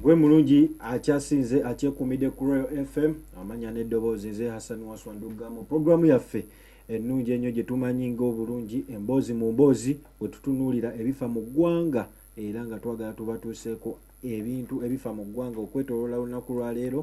gwe mulungi akyasinze akyekuumidde ku royal fm amanya n'eddoboozi nze hassan waswanduga mu pulogulaamu yaffe ennungi ennyo gye tumanyi ng'obulungi emboozi mu mboozi bwe tutunuulira ebifa mu ggwanga era nga twagala tubatuuseeko ebintu ebifa mu ggwanga okwetoloola olunaku lwaleero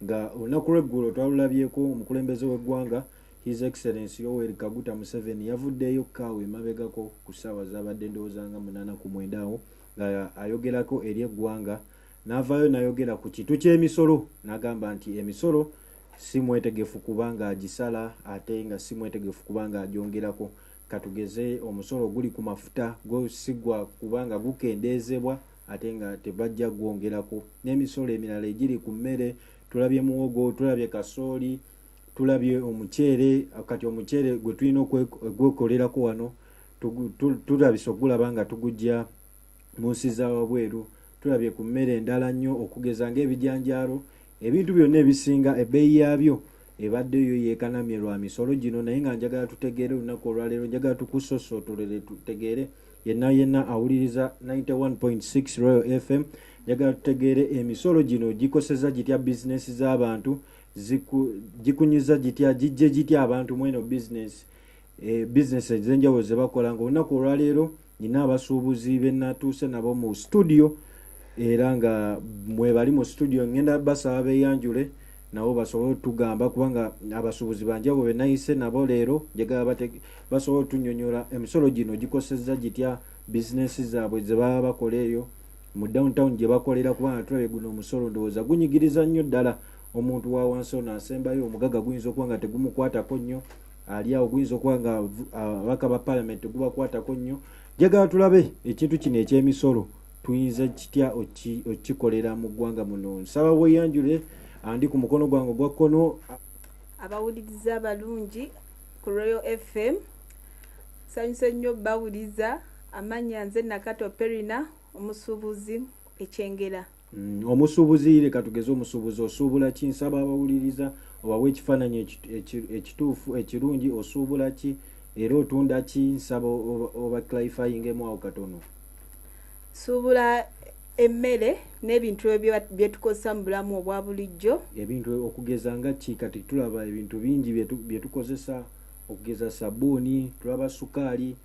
nga olunaku lweggulo twalulabyeko omukulembeze w'eggwanga His Excellency Yoweri Kaguta Museveni yavuddeeyo ku kaawa emabegako ku ssaawa zaabadde ndowooza nga munaana ku mwenda awo nga ayogerako eri eggwanga n'avaayo n'ayogera ku kitu ky'emisolo n'agamba nti emisolo si mwetegefu kuba ng'agisala ate nga si mwetegefu kuba ng'agyongerako katugeze omusolo guli ku mafuta gwo si gwa kuba nga gukendeezebwa ate nga tebajja gwongerako n'emisolo emirala egiri ku mmere tulabye muwogo tulabye kasooli tulabye omuceere kati omuceere gwe tulina okwekolerako wano tulabisa okugulaba nga tugujja mu nsi za wabweru tulabye ku mmere endala nnyo okugeza ng'ebijanjaalo ebintu byonna ebisinga ebbeeyi yaabyo ebadde yo yeekanamye lwa misolo gino naye nga njagala tutegeere olunaku olwaleero njagala tukusosootolere tutegeere yenna yenna awuliriza 91.6 royal fm njagala tutegeere emisolo gino gikoseza gitya bizinensi z'abantu gikunyiza gitya gijje gitya abantu mweno business e, business ezenjawulo zebakola nga olunaku olwaleero nina abasuubuzi benatuuse nabo mu studio era nga mwebali mu studio ngenda basaba beyanjule nabo basobole otugamba kubanga abasuubuzi banjawulo benayise nabo leero njagala basobole otunyonyola emisolo gino gikoseza gitya business zaabwe zebaba bakola eyo mu downtown gye bakolera kubanga tulabye guno omusolo ndowooza gunyigiriza nnyo ddala omuntu wa wansi ono asembayo omugaga guyinza okuba nga tegumukwatako nnyo ali awo guyinza okuba nga ababaka ba palamenti tegubakwatako nnyo jagala tulabe ekintu kino ekyemisolo tuyinza kitya okikolera mu ggwanga muno nsaba weyanjule andi ku mukono gwange ogwa kkono abawuliriza abalungi ku royal fm sanyusa nnyo bawuliza amanya nze nakato perina omusuubuzi ekyengera Mm, omusuubuzi leka tugeze omusuubuzi osuubula ki nsaba abawuliriza obawa ekifaananyi ekituufu ekirungi osuubula ki era otunda ki nsaba oba clarifyingemu awo katono suubula emmere n'ebintu ebyo byetukozesa mu bulamu obwa bulijjo ebintu okugeza nga ki kati tulaba ebintu bingi byetukozesa okugeza sabuuni tulaba sukaali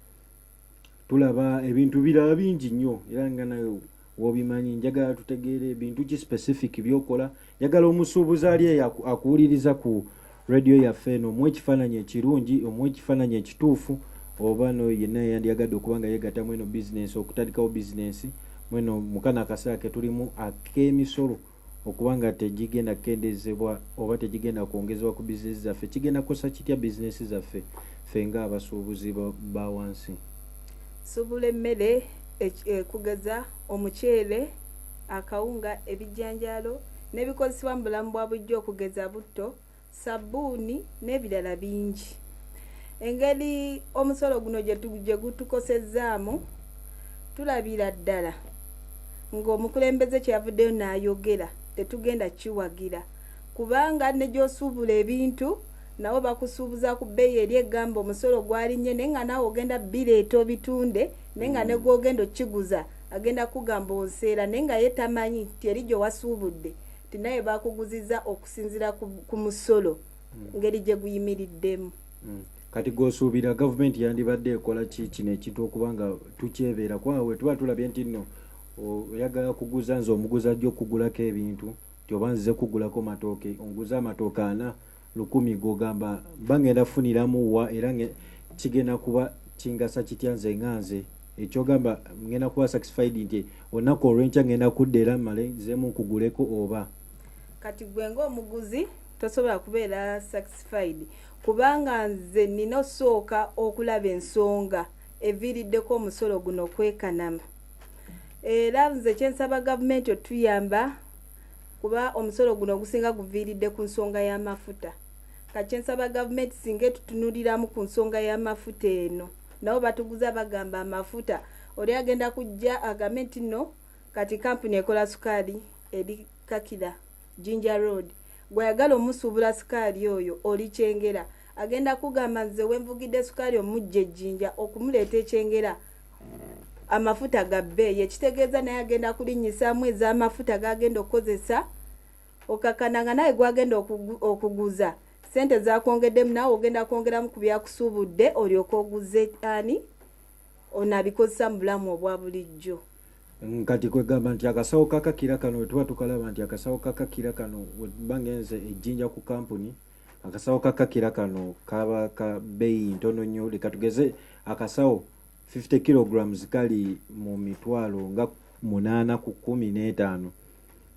tulaba ebintu birala bingi nnyo era nga nawe wobimanyi njagala tutegeere bintu ki specific byokola njagala omusuubuzi ali eyo akuwuliriza ku radio yaffe eno omu ekifaananyi ekirungi omu ekifaananyi ekituufu oba no yenna yandyagadde okuba nga yegatta mweno bizinensi okutandikawo bizinensi mweno mukano akaseera ketulimu ak'emisolo okuba nga tegigenda kukendeezebwa oba tegigenda kwongezebwa ku bizinensi zaffe kigenda kukosa kitya bizinensi zaffe ffe ng'abasuubuzi ba wansi? Subula emmere e, kugeza omuceere, akawunga, ebijanjaalo n'ebikozesebwa mu bulamu bwa bulijjo okugeza butto, sabbuuni n'ebirala bingi engeri omusolo guno gye gutukosezzaamu tulabira ddala ng'omukulembeze kye yavuddeyo n'ayogera tetugenda kiwagira kubanga ne gy'osuubula ebintu nawo bakusuubuza ku bbeeyi eri egamba omusolo gwalinnye naye nga naawe ogenda bireeta obitunde naye nga ne mm. gw'ogenda okukiguza agenda kugamba onseera naye nga ye tamanyi nti eri gye wasuubudde nti naye bakuguziza oku okusinziira ku musolo hmm. ngeri gye guyimiriddemu hmm. kati gwosuubira gavumenti yandibadde ekola ki kino ekintu okuba nga tukyebeera kubanga bwe tuba tulabye nti nno oyagala kuguza nze omuguza ajja okugulako ebintu nti oba nzize kugulako matooke onguza amatooke ana lukumi gogamba mba ngenda kufuniramu wa era kigenda kuba kingasa kitya nze nga nze ekyogamba ngenda kuba satisfied nti olunaku olwenkya ngenda kudda era male nzemu nkuguleko oba kati gwe ng'omuguzi tosobola kubeera satisfied kubanga nze nina osooka okulaba ensonga eviiriddeko omusolo guno okwekanama era nze kyensaba gavumenti otuyamba kuba omusolo guno ogusinga guviiridde ku nsonga y'amafuta kakyensaba gavumenti singa etutunuliramu ku nsonga y'amafuta eno nabo batuguza bagamba amafuta oli agenda kujja agambe nti no kati kampuni ekola sukaali eri kakira jinja road gweyagala omusuubula sukaali oyo oli kyengera agenda kugamba nze wenvugidde sukaali omujja ejjinja okumuleeta ekyengera amafuta gabbe yekitegeeza naye agenda kulinyisaamu ez'amafuta gagenda okukozesa okakana nga naye gwagenda okuguza sente zakwongeddemu nawe ogenda kwongeramu ku byakusuubudde olyoka oguze ani onabikozesa mu bulamu obwa bulijjo Nkati kwegamba nti akasawo kakakira kano wetuba tukalaba nti akasawo kakakira kano webanga enze ejjinja ku kampuni akasawo kakakira kano kaba ka beeyi ntono nnyo leka tugeze akasawo 50 kilograms kali mu mitwalo nga munaana ku kumi n'etaano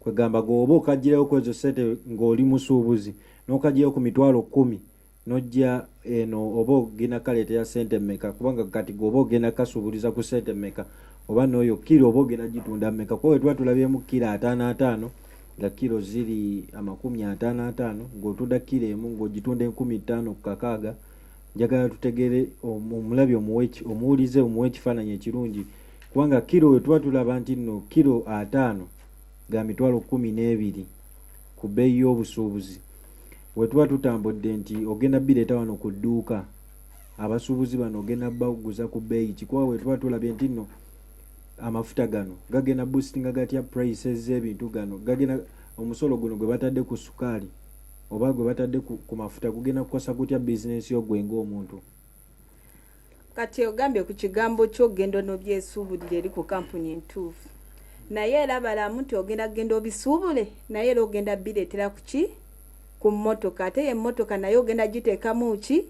kwegamba gooba okagirayo kwezo sente ng'oli musuubuzi n'okagirayo ku mitwalo kumi nojja eno oba ogenda kaleetera sente meka kubanga kati gwe oba ogenda kasuubuliza ku sente meka oba nooyo kiro oba ogenda gitunda meka kuba wetuba tulabyemu kiro ataano ataano nga kiro ziri amakumi ataano ataano ng'otunda kiro emu ng'ogitunda enkumi ttaano ku kakaaga njagala tutegere omulabi omuwulize omuwa ekifaananyi ekirungi kubanga kiro wetuba tulaba nti nno kiro ataano ga mitwalo kumi n'ebiri ku bbeeyi y'obusuubuzi wetuba tutambudde nti ogenda bireeta wano ku dduuka abasuubuzi bano ogenda baguza ku bbeeyi kikuba wetuba tulabye nti nno amafuta gano gagenda boostinga gatya prices z'ebintu gano gagenda omusolo guno gwe batadde ku sukaali oba gwe batadde ku mafuta gugenda kukosa gutya bizinensi yo gwe ng'omuntu kati ogambye ku kigambo ky'okugenda onobyesuubulira eri ku kampuni entuufu naye era balamu nti ogenda kugenda obisuubule naye era ogenda bireetera ku ki ku mmotoka ate ye mmotoka naye ogenda giteekamu ki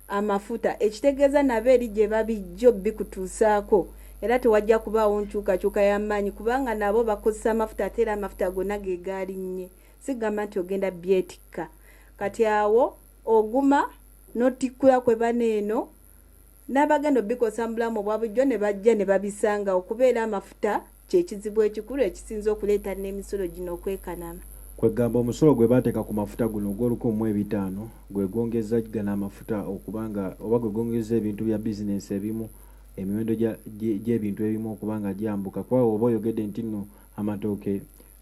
amafuta ekitegeeza nabo eri gye babijjo bikutuusaako era tewajja kubaawo nkyukakyuka y'amaanyi kubanga nabo bakozesa amafuta ate era amafuta gonna ge gaalinnye sigamba nti ogenda byetikka kati awo oguma notikkula kwe bane eno n'abagenda obikosa mu bulamu obwa bulijjo ne bajja ne babisanga okubeera amafuta kye kizibu ekikulu ekisinze okuleeta n'emisolo gino okwekanama. Kwegamba omusolo gwe baateeka ku mafuta guno ogw'olukumi mu ebitaano gwe gwongezza gano amafuta okuba nga oba gwe gwongezza ebintu bya bizinensi ebimu emiwendo gy'ebintu ebimu okuba nga gyambuka kuba oba oyogedde nti nno amatooke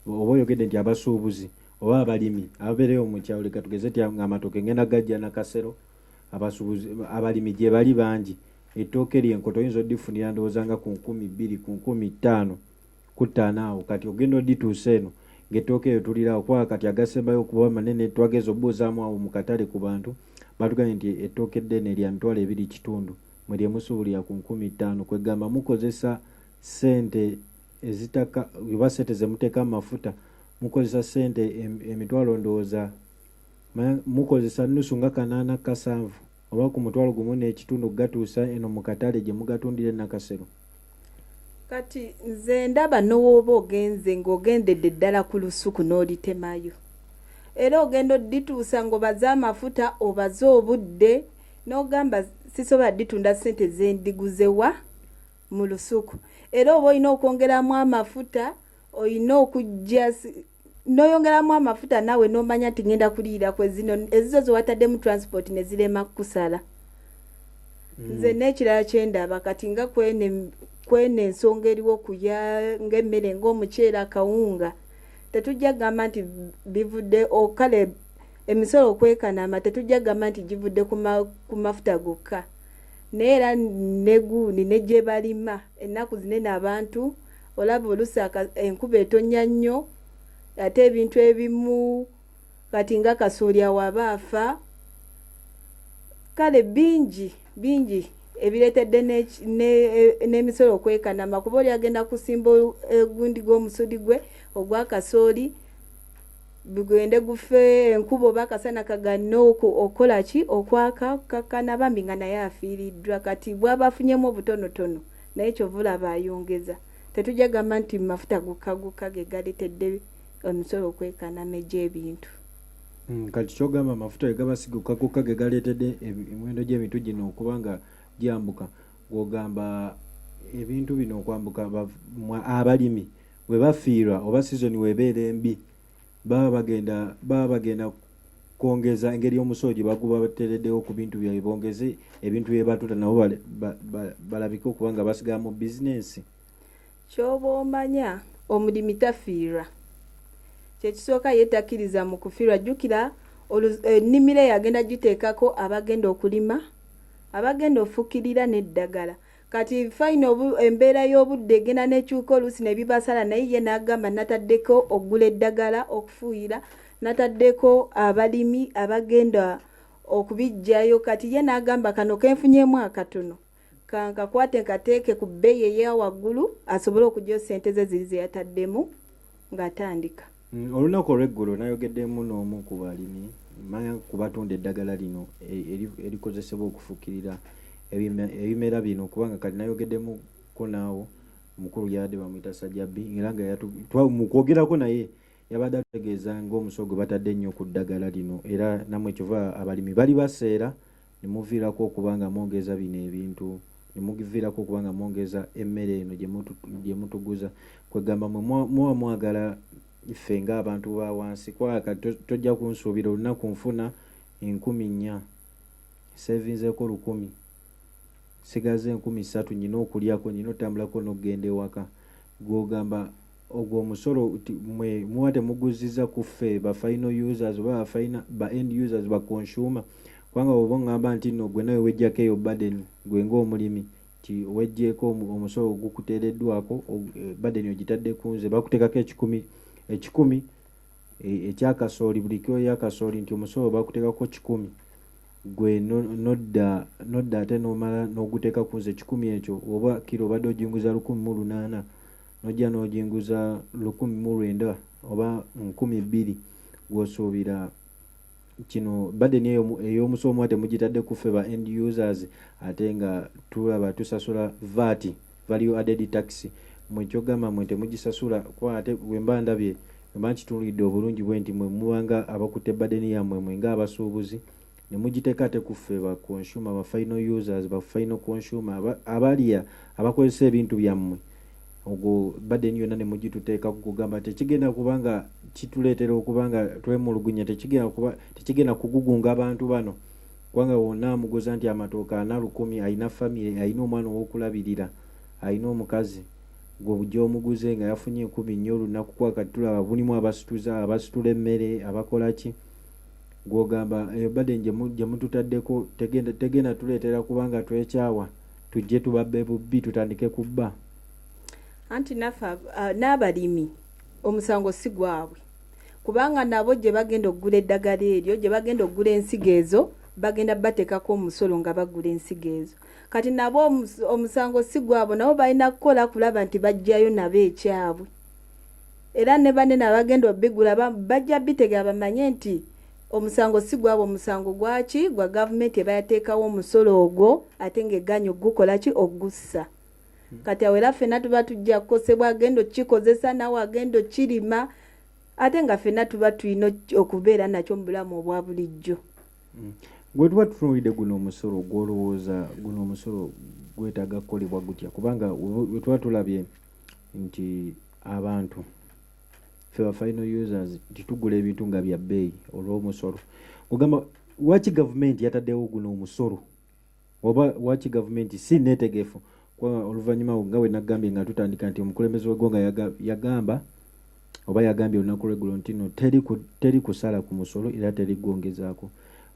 oba oyogedde nti abasuubuzi oba abalimi ababeerewo mu kyalo leka tugeze ti ng'amatooke ngenda gajja nakasero abasubuzi abalimi gye bali bangi ettooke lyenkoto oyinza odifunira ndowooza nga ku nkumi bbiri ku nkumi ttaano ku ttaano awo kati ogenda odituusa eno ng'ettooke eyo tuliraawo kuba kati agasembayo okuba manene twageza obubuuzaamu awo mu katale ku bantu batugambye nti ettooke eddene lya mitwalo ebiri kitundu mwe lyemusuubulira ku nkumi ttaano kwegamba mukozesa ssente ezitaka oba sente zemuteka amafuta mukozesa sente emitwalo ndowooza mukozesa nusu nga kanaana kasanvu oba ku mutwalo gumu n'ekitundu okugatuusa eno mu katale gye mugatundira enakasero kati nze ndaba nowooba ogenze ng'ogendedde ddala ku lusuku n'olitemayo era ogenda odituusa ng'obaze amafuta obaze obudde n'ogamba sisobola ditunda ssente zendiguzewaa mu lusuku era oba olina okwongeramu amafuta olina okujja noyongeramu amafuta naawe nomanya nti ngenda kuliira kwezino ezizo zewataddemu transport nezirema kukusala mm. nze nekirala kyendaba kati nga kwene kwene ensonga eriwo kuya ngaemmere ngaomuceera akawunga tetujja kugamba nti bivudde okale emisolo okwekanama tetujja kugamba nti givudde ku mafuta gokka naye era negundi ne gye balima ennaku zinene abantu olaba olusi enkuba etonya nnyo ate ebintu ebimu kati nga kasooli awo aba afa kale bingi bingi ebireetedde n'emisolo e, okwekanama kuba oli agenda kusimba e, gundi gw'omusudi gwe ogwa kasooli gugende gufe enkuba oba akasana kaganne okukola ki okwaka kukakkana bambi nga naye afiiriddwa kati bwaba afunyemu obutonotono naye kyova olaba ayongeza tetujja gamba nti mafuta gukka gukka ge galetedde omusolo okwekanama egy'ebintu mm, kati kyogamba amafuta gegabasiguka gukka ge galeetedde emiwendo gy'ebintu gino okuba nga gyambuka gwogamba ebintu bino okwambuka abalimi we bafiirwa oba sizoni weebeera embi baba bagenda baba bagenda kwongeza engeri omusolo gye baguba bateereddewo ku bintu byabwe bongeze ebintu bye batuta nabo balabike okuba nga basigala mu bizinensi kyoba omanya omulimi tafiirwa kyekisooka ye takkiriza mu kufiirwa jjukira ennimiro eh, eyagenda giteekako abagenda okulima abagenda ofukirira n'eddagala Kati fine obu embeera y'obudde egenda n'ekyuka oluusi ne bibasala naye ye n'agamba nataddeko okugula eddagala okufuuyira nataddeko abalimi abagenda okubiggyayo kati ye n'agamba kano kenfunyemu akatono kankakwate nkateeke ku bbeeyi eya waggulu asobole okugyayo ssente ze ziri ze yataddemu ng'atandika Mm, olunaku olweggulo nayogeddemu n'omu ku balimi manya ku batunda eddagala lino e-, erikozesebwa okufukirira ebimera bino kubanga kati nayogeddemuko naawo mukulu yabadde bamuyita sajjabbi era nga mu kwogerako naye yabadde atutegeeza ng'omusogo gwe batadde ennyo ku ddagala lino era namwe kyova abalimi bali baseera ne muviirako okuba nga mwogeza bino ebintu ne muviirako okuba nga mwogeza emmere eno gye mutuguza kwegamba mwe muba mwagala ffe ng'abantu ba wansi kwaka tojja kunsuubira olunaku nfuna enkumi nnya sevinzeeko lukumi sigaza enkumi ssatu nyina okulyako nyina otambulako n'okugenda ewaka gwogamba ogwo omusolo mwe muba temuguzziza ku ffe ba final users oba ba end users ba consumer kubanga woba ongamba nti no gwe nawe wejjako eyo baden gwe ngaomulimi ti wejjeeko omusolo ogukuteereddwako eh, baden ogitadde ku nze bakuteekako ekikumi ekikumi eh, ekyakasooli buli kiro yakasooli nti omusolo bakuteekako kikumi gwe nodda nodda ate nomala noguteeka ku nze ekikumi ekyo oba kiro obadde ojinguza lukumi mu lunaana nojja n'oginguza lukumi mu lwenda oba nkumi bbiri gwosuubira kino badeni eyo ey'omusoomwa temugitadde kuffe ba end users ate nga tulaba tusasula vaati value added tax mwekyogamba mwe temugisasula kuba ate wemba ndabye wemba nkitunulidde obulungi bwe nti mwe mubanga abakutte badeni yammwe mwe nga abasuubuzi nemujiteka ate kuffe ba consumer ba final users ba final consumer abalya abakozesa ebintu byammwe ogwo baden yonna nemugituteeka kugamba nti ekigenda kubanga kituleetera okubanga twemulugunya tekigenda kugugunga abantu bano kubanga wonna amuguza nti amatooka ana lukumi alina famire alina omwana owokulabirira alina omukazi gwe bujja omuguze nga yafunye enkumi nnyo olunaku kwakati tulaba bulimu abasituza abasitula emmere abakolaki gwogamba eyo baden gyemututaddeko tegenda tuleetera kubanga twekyawa tujje tubabbe bubbi tutandike kubba anti nafe uh, n'abalimi omusango si gwabwe kubanga nabo gye bagenda okugula eddagala eryo gye bagenda okugula ensigo ezo bagenda bateekako omusolo nga bagula ensigo ezo kati nabo omusango si gwabwe nabo balina kukola kulaba nti bajjayo nabo ekyabwe era ne banene abagenda obigula bajja bitegera bamanye nti omusango si gwabwe omusango gwaki gwa gavumenti eba yateekawo omusolo ogwo ate ng'egaanyi okugukola ki okugussa hmm. kati awo era ffenna tuba tujja kukosebwa agenda okukikozesa nawe agenda okukirima ate nga ffenna tuba tulina okubeera nakyo mu bulamu obwa bulijjo hmm. gwe tuba tutunuulidde guno omusolo gwolowooza guno omusolo gwetaaga kukolebwa gutya kubanga wetuba tulabye nti abantu fe ba final users nti tugula ebintu nga bya bbeeyi olw'omusolo ogamba waki gavumenti yataddewo guno omusolo oba waki gavumenti si neetegefu oluvannyuma nga we nagambye nga tutandika nti omukulembeze w'eggwanga yagamba oba yagambye olunaku lweggulo nti no teri kusala ku musolo era teri gwongezaako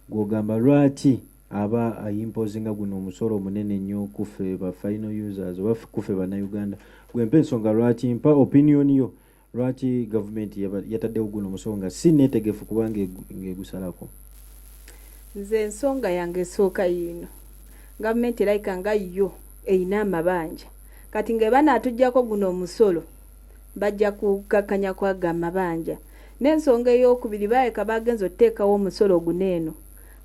gwogamba lwaki aba a imposinga guno omusolo omunene nnyo kuffe ba final users oba kuffe bannayuganda gwe mpa ensonga lwaki mpa opinion yo lwaki gavumenti yataddewo guno omusolo nga si neetegefu kuba ngaegusalako nze ensonga yange esooka yiino gavumenti erayika nga yo erina amabanja kati nga ebanaatuggyako guno omusolo bajja kukakkanya kwaga amabanja n'ensonga ey'okubiri baayeka baagenza otuteekawo omusolo guno eno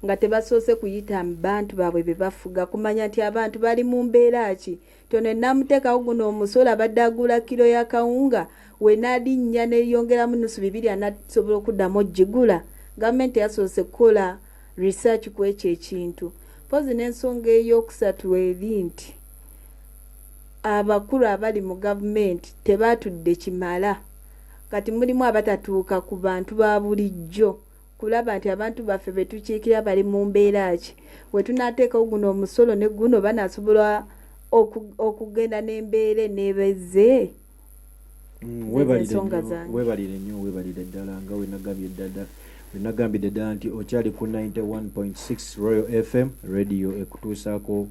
nga tebasoose kuyita bantu baabwe be bafuga kumanya nti abantu bali mu mbeera ki tono enamuteekawo guno omusolo abadde aguula kiro ya kawunga wenalinnya neyongeramu nusu bibiri anasobola okuddamu ogigula gavumenti yasoose kukola research ku ekyo ekintu mpozi n'ensonga ey'okusatu eri nti abakulu abali mu gavumenti tebaatudde kimala kati mulimu abatatuuka ku bantu ba bulijjo kulaba nti abantu baffe be tukiikirira bali mu mbeera ki. We tunaateekawo guno omusolo ne guno banaasobola okugenda n'embeera eneeba ezze mm, webalire nnyo webalire ddala nga wenagambye ddala wenagambidde ddala nti okyali ku 91.6 royal fm radio ekutuusaako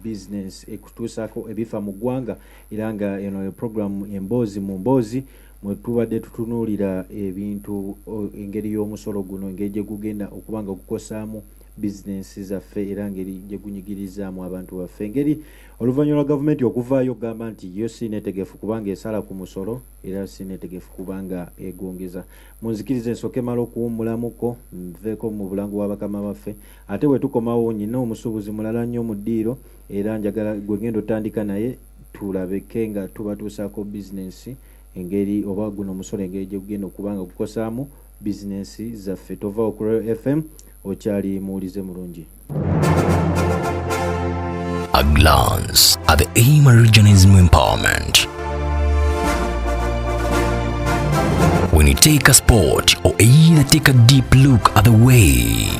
business ekutuusaako ebifa mu ggwanga era nga eno eprogramu emboozi mu mboozi mwe tubadde tutunuulira ebintu engeri y'omusolo guno engeri gye gugenda okuba nga gukosaamu bizinensi zaffe era ngeri gye gunyigirizaamu abantu baffe engeri oluvannyuma lwa gavumenti okuvaayo okugamba nti yo si neetegefu kubanga esala ku musolo era si neetegefu kubanga egwongeza mu nzikiriza ensooka emala okuwummulamuko nveeko mu bulango bwa bakama baffe ate bwe tukomawo nyina omusuubuzi mulala nnyo mu ddiiro era njagala gwe ngenda otandika naye tulabeke nga tubatuusaako bizinensi engeri oba guno omusolo engeri gye gugenda okuba nga gukosaamu bizinensi zaffe tova ku royal fm okyali muwulize mulungi A glance at the aim of regionalism empowerment. When you take a sport or either take a deep look at the way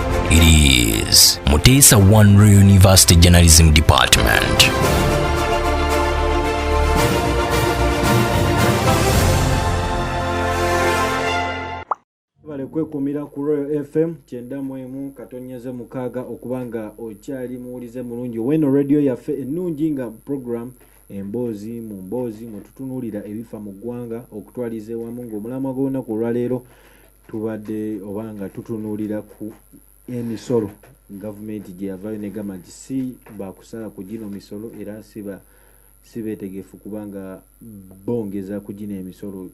It is Mutesa One University Journalism Department. webale kwekumira ku royal fm kyenda mwemu katonyeze mukaaga okuba nga okyali muwulize mulungi oweno radio yaffe ennungi nga program emboozi mu mboozi mwetutunuulira ebifa mu ggwanga okutwaliza ewamu ng'omulamwa gw'olunaku olwaleero tubadde oba nga tutunuulira ku emisolo gavumenti gye yavayo ne gamba nti si bakusala ku gino misolo era siba si beetegefu kubanga bongeza ku gino emisolo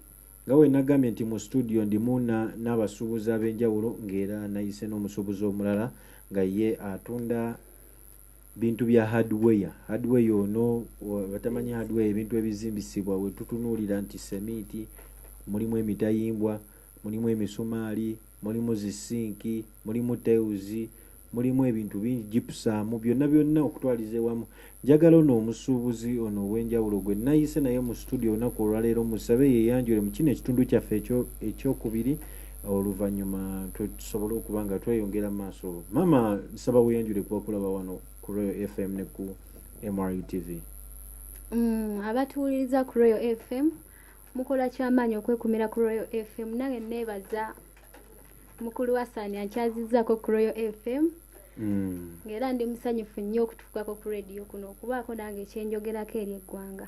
nga we nagambye nti mu situdiyo ndimu n'abasuubuzi ab'enjawulo ng'era nayise n'omusuubuzi omulala nga ye atunda bintu bya hardware hardware ono batamanyi hardware ebintu ebizimbisibwa wetutunuulira nti semiiti mulimu emitayimbwa mulimu emisumaali mulimu zisinki mulimu teuzi mulimu ebintu bingi gipusaamu byonna byonna okutwaliza ewamu njagala ono omusuubuzi ono ow'enjawulo gwe nayise naye mu situdio olunaku olwaleero musabe yeyanjule mu kino ekitundu kyaffe ekyokubiri oluvanyuma tusobole okuba nga tweyongera mu maaso maama nsaba weyanjule kuba kulaba wano ku royal fm ne ku mru tv mm, abatuwuliriza ku royal fm mukola kyamaanyi okwekumira ku royal fm nange neebaza mukulu wa saani ankyazizaako ku royal fm mm. ngaera ndi musanyufu nnyo okutuukako ku rediyo kuno okubaako nange ekyenjogerako eri eggwanga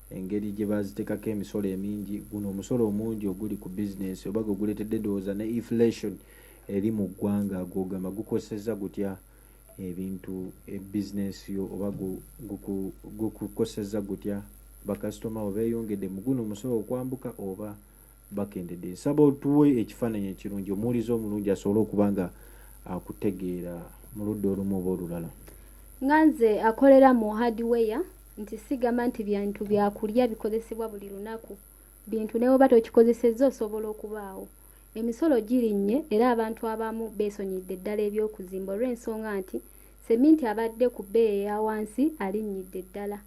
engeri gye bazitekako emisolo emingi, guno omusolo omungi oguli ku bizinensi oba gwe guleetedde endowooza ne inflation eri mu ggwanga gw'ogamba gukosezza gutya ebintu e bizinensi yo oba gukukosezza gutya bakasitoma bo beeyongedde mu guno omusolo okwambuka oba bakendedde nsaba otuwe ekifaananyi ekirungi omuwulizi omulungi asobole okuba nga akutegeera mu ludda olumu oba olulala nga nze akolera mu hardware nti sigamba nti bintu byakulya bikozesebwa buli lunaku bintu newoba tokikozesezza osobola okubaawo emisolo girinnye era abantu abamu beesonyidde ddala eby'okuzimba olw'ensonga nti seminti abadde ku bbeeyi eya wansi alinnyidde ddala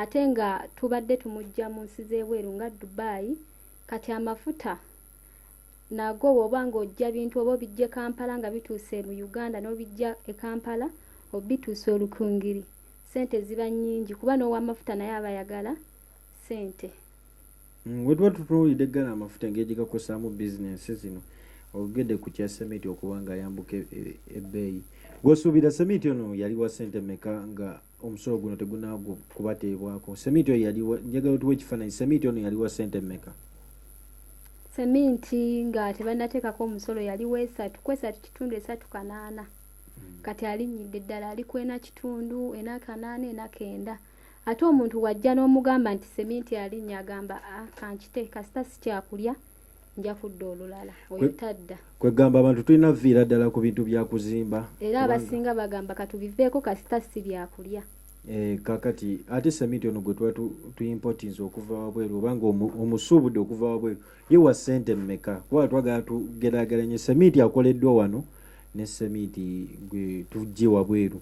ate nga tubadde tumujja mu nsi z'ebweru nga dubai kati amafuta nago woba nga ojja bintu oba obijja ekampala nga bituuse mu uganda n'obijja ekampala obituusa olukungiri sente ziba nyingi kuba n'owamafuta naye aba yagala sente mm, wetuba tutunuulidde eggala amafuta engeri gyegakozesaamu bizinensi zino ogede ku kya semiti okuba nga ayambuka e, e, ebbeeyi gwosuubira semiti ono yali wa sente meka nga omusolo guno tegunaago kubateebwako seminti oyo yali njagala otuwa ekifaananyi seminti ono yali wa sente mmeka seminti nga tebanateekako omusolo yali wesatu kwesatu kitundu esatu kanaana hmm. kati alinyidde ddala ali ku ena kitundu ena kanaana ena kenda ate omuntu wajja n'omugamba nti seminti alinya agamba ah, kankite kasita sikyakulya nja kudda olulala oyo tadda kwegamba abantu tulina viira ddala ku bintu byakuzimba era abasinga bagamba katubiveeko kasita si byakulya Eh, kakati ate seminti ono gwe tuba tuimpotinze okuva wabweru obanga omusuubudde okuva wabweru ye wa sente mmeka kuba twagala tugerageranye seminti akoleddwa wano ne seminti gwe tujje wabweru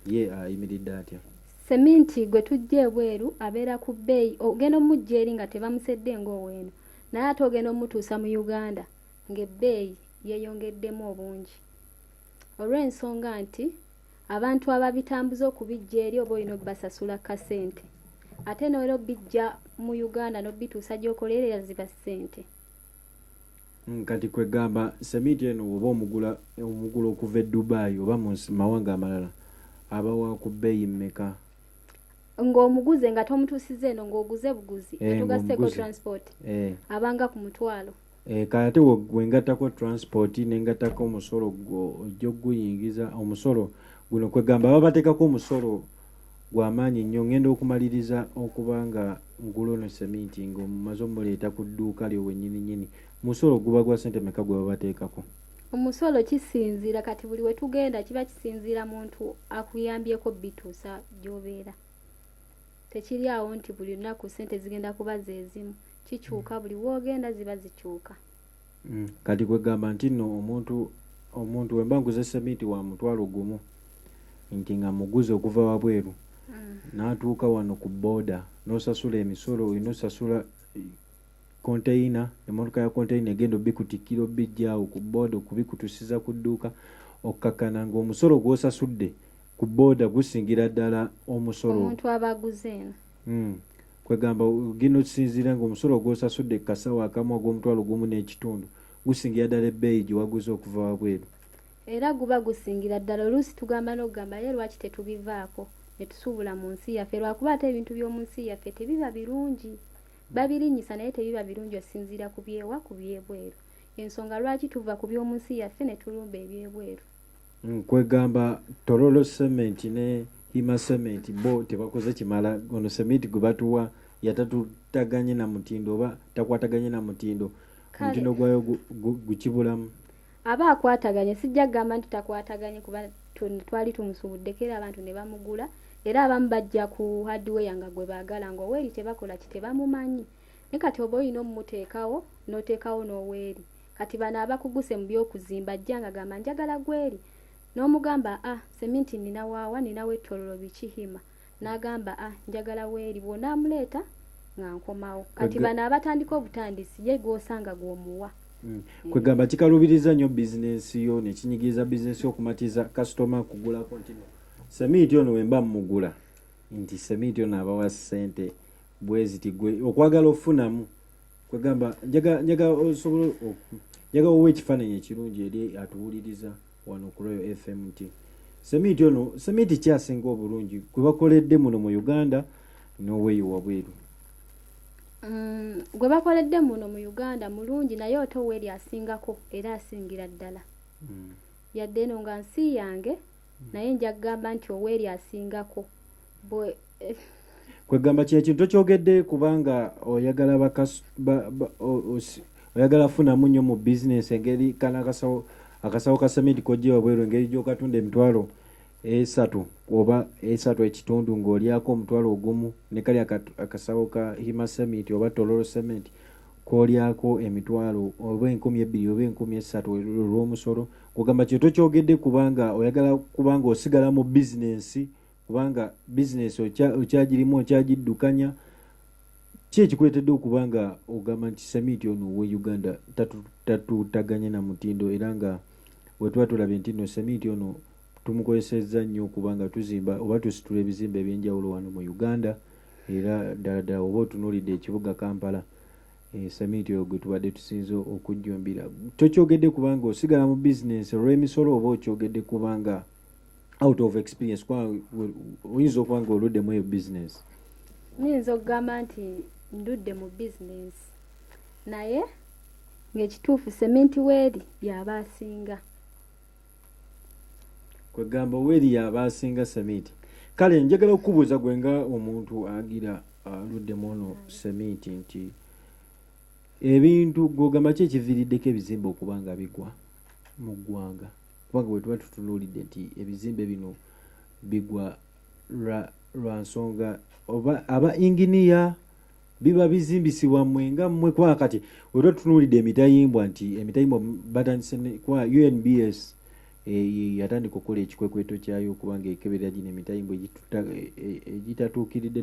ye ayimiridde atya Seminti gwe tujja ebweru abeera ku bbeeyi ogenda omujja eri nga tebamusedde ng'oweeno naye ate ogenda omutuusa mu Uganda ng'ebbeeyi yeeyongeddemu obungi olw'ensonga nti abantu ababitambuza okubijja eri oba olina obbasasula kasente ate n'oera obbijja mu Uganda n'obbituusa gy'okoleerera ziba ssente. kati kwegamba semiti eno oba omugula omugula okuva e dubai oba mu mawanga amalala aba wa ku bbeeyi mmeka ng'omuguze nga tomutuusiza eno ng'oguze buguzi eh, atugaseeko transport eh. abanga ku mutwalo eh, kale ate wengattako transport nengattako omusolo gwo ojja okuguyingiza omusolo guno kwegamba babateekako omusolo gwa maanyi nnyo. Ŋŋenda okumaliriza okuba nga ngula ono sseminti nga omumaze omuleeta ku dduuka lyo wennyini nnyini. Musolo guba gwa ssente meka gwe babateekako? Omusolo kisinziira kati buli we tugenda kiba kisinziira muntu akuyambyeko bituusa gy'obeera. Tekiri awo nti buli lunaku ssente zigenda kuba ze zimu. Kikyuka buli w'ogenda ziba zikyuka. Mm. Kati kwegamba nti no omuntu omuntu wemba nguze seminti wa mutwalo gumu nti nga muguze okuva wabweru mm. natuuka wano ku boda nosasula emisolo olina osasula konteyina emotoka ya konteyina egenda obikutikira obijjaawo ku boda okubikutusiza ku dduuka okukakana nga omusolo gwosasudde ku boda gusingira ddala omusolo omuntu abaguze eno Hmm. kwegamba gino kisinziira nga omusolo gwosasudde kukasawo akamu ogw'omutwalo gumu n'ekitundu gusingira ddala ebbeeyi gye waguze okuva wabweru era guba gusingira ddala oluusi tugamba n'okugamba ye lwaki tetubivaako ne tusuubula mu nsi yaffe lwakuba ate ebintu by'omu nsi yaffe tebiba birungi babirinnyisa naye tebiba birungi osinziira ku byewa ku byebweru ensonga lwaki tuva ku by'omu nsi yaffe ne tulumba ebyebweru nkwegamba torolo cement ne hima cement bo tebakoze kimala ono cement gwe batuwa yatatutaganye na mutindo oba takwataganye na mutindo omutindo gwayo gukibulamu aba akwataganye sijja kugamba nti takwataganye kuba twali tumusubuddeko era abantu ne bamugula era abamu bajja ku hardware nga gwe baagala nga oweeri tebakola ki tebamumanyi naye kati oba olina omumuteekawo n'oteekawo n'oweeri Kati bano abakuguse mu by'okuzimba ajja nga gamba njagala gweri n'omugamba a seminti nina waawa nina wetololo biki hima n'agamba a njagala weeri bwona amuleeta nga nkomawo kati bano abatandika obutandisi ye gwosanga gw'omuwa Mm. kwegamba kikalubiriza nnyo bizinensi yo nekinyigiriza bizinensi yo okumatiza kasitoma kugulako nti seminti ono wemba mumugula nti seminti ono abawa sente bweziti gwe okwagala ofunamu kwegamba njaga njaga osobola njaga owa ekifaananyi ekirungi eri atuwuliriza wano ku royal fm nti seminti ono seminti kyasinga obulungi gwe bakoledde muno mu uganda n'oweeyo wabweru mm, gwe bakoledde muno mu uganda mulungi naye ote oweeri asingako era asingira ddala mm. yadde eno nga nsi yange mm. naye nja kugamba nti oweeri asingako kwegamba kino kintu tokyogedde kubanga oyagala bakas ba, ba, o, os, oyagala funamu nnyo mu bizinesi engeri kana akasawo akasawo ka sementi kojja wabweru engeri gyokatunda emitwalo esatu oba esatu ekitundu ng'olyako omutwalo ogumu ne kali akasawo ka hima sementi oba tololo sementi kolyako emitwalo oba enkumi ebbiri oba enkumi esatu olw'omusolo kugamba kino tokyogedde kubanga oyagala kubanga osigala mu bizinesi kubanga bizinesi okyagirimu okyagiddukanya ki ekikuleetedde okuba nga ogamba nti samiiti ono owe uganda tatuutaganya na mutindo era nga wetuba tulabye nti no samiiti ono tumukozesezza nnyo okuba nga tuzimba oba tusitula ebizimba ebyenjawulo wano mu uganda era ddala ddala oba otunuulidde ekibuga kampala Eh, samiiti oyo gwe tubadde tusinza okujjumbira tokyogedde kubanga osigala mu bizinensi olw'emisolo oba okyogedde kubanga out of experience oyinza okuba nga oluddemu eyo business nyinza okugamba nti ndudde mu business naye ng'ekituufu seminti weeri yaba asinga kwegamba weeri yaba asinga seminti kale njagala okukubuuza gwe nga omuntu agira aluddemu ono seminti nti ebintu gwogamba ki ekiviriddeko ebizimba okuba nga bigwa mu ggwanga kubanga bwe tuba tutunuulidde nti ebizimbe bino bigwa lwa nsonga oba aba inginiya biba bizimbisibwa mmwe nga mmwe kwa kati we tuba tutunuulidde emitayimbwa nti emitayimbwa batandise kwa unbs eh, yatandika okukola ekikwekweto kyayo okubanga ekeberera gino emitayimbwa egitatuukiridde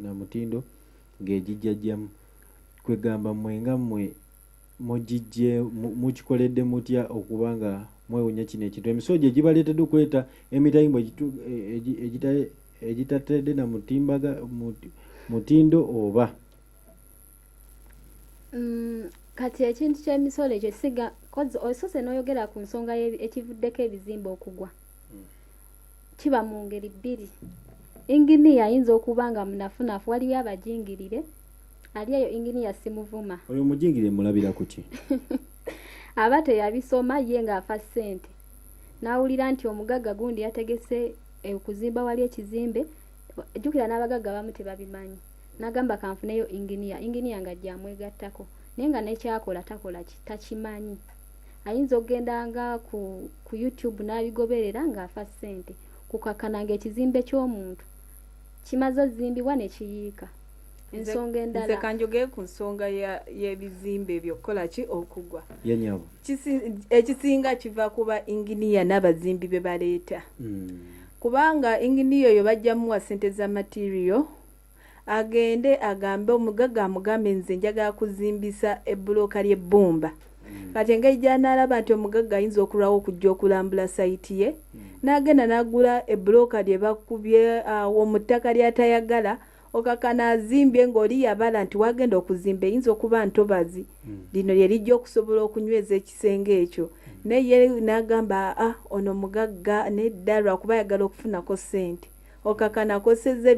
na mutindo ng'egijjajjamu kwegamba mmwe nga mmwe mugijje mukikoledde mutya okuba nga mwewunya kino ekintu emisulo gye gibaleetedde okuleeta emitayimbo egitatedde na mutimbaga mutindo oba mm, kati ekintu ky'emisolo ekyo siga osoose n'oyogera ku nsonga ekivuddeko ebizimba okugwa kiba mu ngeri bbiri inginiya ayinza okuba nga munafunafu waliwo abajingirire ali eyo inginiya simuvuma oyo omujingirire mulabira kuki aba teyabisoma ye ng'afa ssente n'awulira nti omugagga gundi yategese eh, okuzimba wali ekizimbe jjukira n'abagagga abamu tebabimanyi n'agamba kanfuneyo inginiya inginiya nga gyamwegattako naye nga nekyakola takola takimanyi ayinza okugenda nga ku, ku youtube n'abigoberera ng'afa ssente kukakana ng'ekizimbe ky'omuntu kimaze ozimbibwa ne kiyiika ensonga endala nze kanjogee ku nsonga y'ebizimbe ebyo okukola ki okugwa ekisinga kiva kuba inginiya n'abazimbi be baleeta hmm. kubanga inginiya oyo bajja muwa ssente za materiyo agende agambe omugaga amugambe nze njagala kuzimbisa ebbuloka ly'ebbumba hmm. kati engeri gyanaalaba nti omugagga ayinza okulwawo okujja okulambula sayiti ye hmm. n'agenda n'agula ebbuloka lye bakubye awo mu ttaka ly'atayagala okakana azimbye ng'oli yabala nti wagenda okuzimba eyinza okuba ntobazi hmm. lino lye lijja okusobola okunyweza ekisenge ekyo naye n'agamba a ah, ono mugagga nedda lwakuba ayagala okufunako ssente okakana akosezza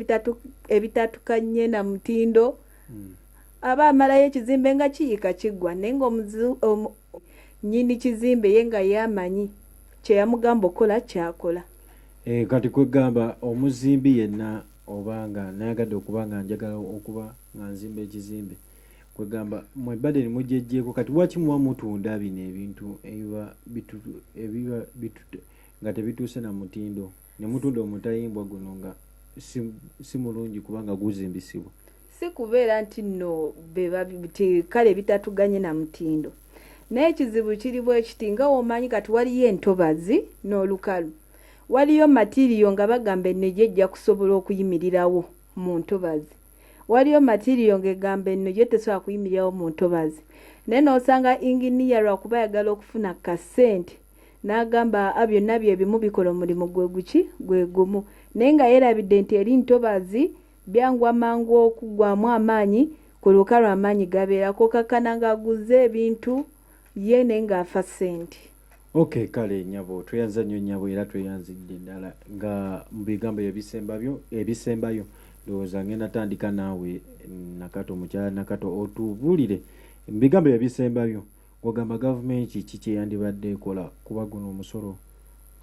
ebitatukanye na mutindo hmm. aba amalayo ekizimbe nga kiyika kiggwa naye nga nyini kizimbe ye nga yamanyi kyeyamugamba okukola kyakola eh, kati kwegamba omuzimbi yenna oba nga nayagadde okuba nga njagala okuba nga nzimba ekizimbe kwegamba mwebadeni mujejeko kati waki muba mutunda bino ebintu ebiba nga tebituuse na mutindo Ne mutunda omutayimbwa guno nga si, si mulungi kubanga guzimbisibwa. Si kubeera nti nno be babiti kale bitatuganye na mutindo. Naye ekizibu kiri bwe kiti nga womanyi kati waliyo entobazi n'olukalu. Waliyo matiriyo nga bagamba enno gyo ejja kusobola okuyimirirawo mu ntobazi. Waliyo matiriyo nga egamba enno gyo tesobola kuyimirirawo mu ntobazi. Naye n'osanga inginiya lwakuba ayagala okufuna ku ka ssente, N'agamba, A, byonna bye bimu, bikola omulimu gwe guki? Gwe gumu. Naye nga yeerabidde nti eri ntobazzi, byangu amangu okuggwaamu amaanyi, ku luka lwe amaanyi gabeera. K'okakkana nga aguzza ebintu, ye, naye nga afa ssente. OK, kale, nnyabo. Tweyanziza nnyo, nnyabo, era tweyanzidde ddala nga, mu bigambo byo ebisembabyo, ebisembayo. Ndowooza ŋŋenda tandika naawe, Nakato, Mukyala Nakato, otubuulire, mu bigambo byo ebisembayo. Ogamba gavumenti ki kyeyandibadde ekola kuba guno omusolo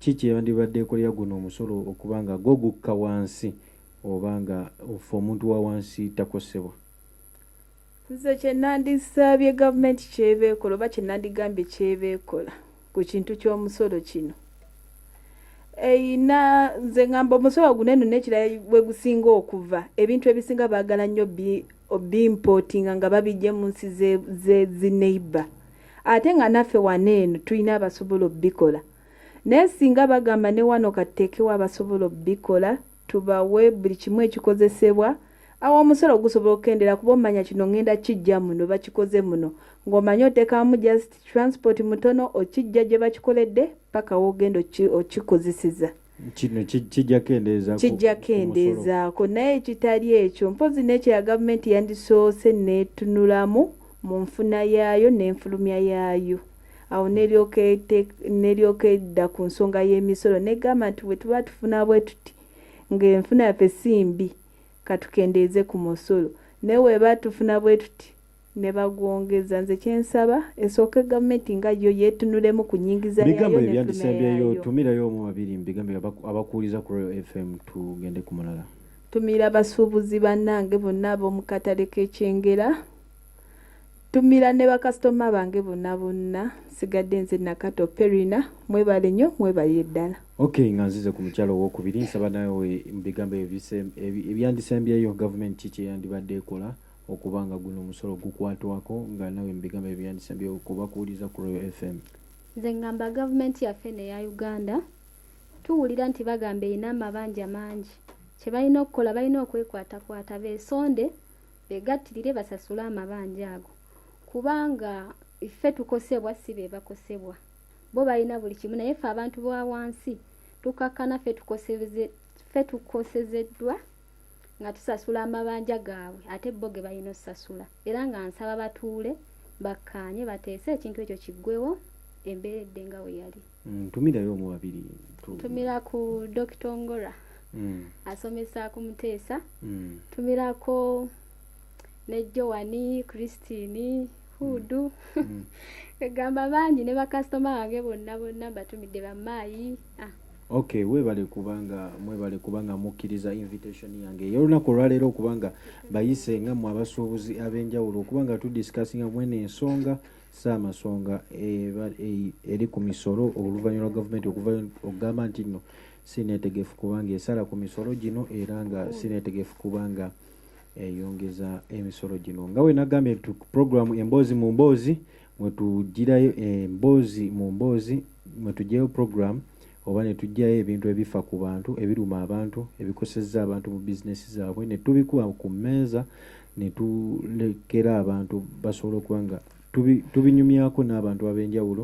ki kyeyandibadde ekolera guno omusolo okuba nga gwo gukka wansi oba nga ffe omuntu wawansi takosebwa? Nze kyenandisabye gavumenti kyeba ekola oba kyenandigambye kyeba ekola ku kintu ky'omusolo kino. eyina nze ngamba omusawa guneno nekira wegusinga okuva ebintu ebisinga bagala nnyo bimpotinga nga babijje mu nsi zezineiba ate nga naffe wano eno tulina abasobola obikola naye singa bagamba ne wano katteekewo abasobola obikola tubawe buli kimu ekikozesebwa awo omusolo gusobola okukendera kuba omanya kino ngenda kijja muno bakikoze muno ng'omanya otekamu just transport mutono okijja gye bakikoledde paka wogenda okikozeseza kino kijja kendeeza kijja kendeezaako naye ekitali ekyo mpozi n'ekyo ya gavumenti yandisoose neetunulamu mu nfuna yaayo n'enfulumya yaayo awo neryoka edda ku nsonga y'emisolo negamba nti bwe tuba tufuna bwe tuti ng'enfuna yaffe si mbi katukendeeze ku musolo naye weba tufuna bwe tuti ne bagwongeza nze kyensaba esooke gavumenti nga yo yetunulemu ku nyingiza bigambo ebyandisembyeyo tumirayo omu babiri mubigambo abakuwuliza ku royal fm tugende ku mulala tumira abasuubuzi bannange bonna ab'omu katale k'ekyengera tumira ne bakasitoma bange bonna bonna sigadde nze nakato perina mwebale nnyo mwebalire ddala ok nga nzize ku mukyalo owokubiri nsaba nawe mu bigambo ebyandisembyeyo gavumenti kiki eyandibadde ekola okuba nga guno omusolo gukwatwako nga nawe mubigambo ebyandisa byokuba kuwuliza ku royal fm nze ngamba gavumenti yaffe neya uganda tuwulira nti bagamba erina amabanja mangi kye balina okukola balina okwekwatakwata besonde begattirire basasule amabanja ago kubanga ffe tukosebwa si be bakosebwa bo balina buli kimu naye ffe abantu ba wansi tukakkana ffe tukosezeddwa nga tusasula amabanja gaabwe ate bo ge balina okusasula era nga nsaba batuule bakkaanye bateese ekintu ekyo kiggwewo embeera edde nga we yali mm, ntumirayo omu babiri ntumira ku dokita ongora mm. asomesa ku muteesa mm. ntumirako ne joani christine hudu egamba bangi ne bakasitoma bange bonna bonna mbatumidde bamaayi ah. Okay, webale kubanga mwebale kubanga mukkiriza invitation yange ey'olunaku olwaleero okubanga bayise nga mwe abasuubuzi ab'enjawulo okubanga tudiscussinga mwene ensonga saamasonga eri ku misolo oluvannyuma lwa gavumenti okuva okugamba nti nno sineetegefu kubanga esala ku misolo gino era nga sineetegefu kubanga eyongeza emisolo gino nga wenagambye nti programu emboozi mu mboozi mwetujirayo emboozi eh, mu mboozi mwetujjayo program oba netujjayo ebintu ebifa ku bantu ebiruma abantu ebikosezza abantu mu bizinesi zaabwe netubikuba ku mmeeza netulekera abantu basobola okuba nga tubinyumyako n'abantu ab'enjawulo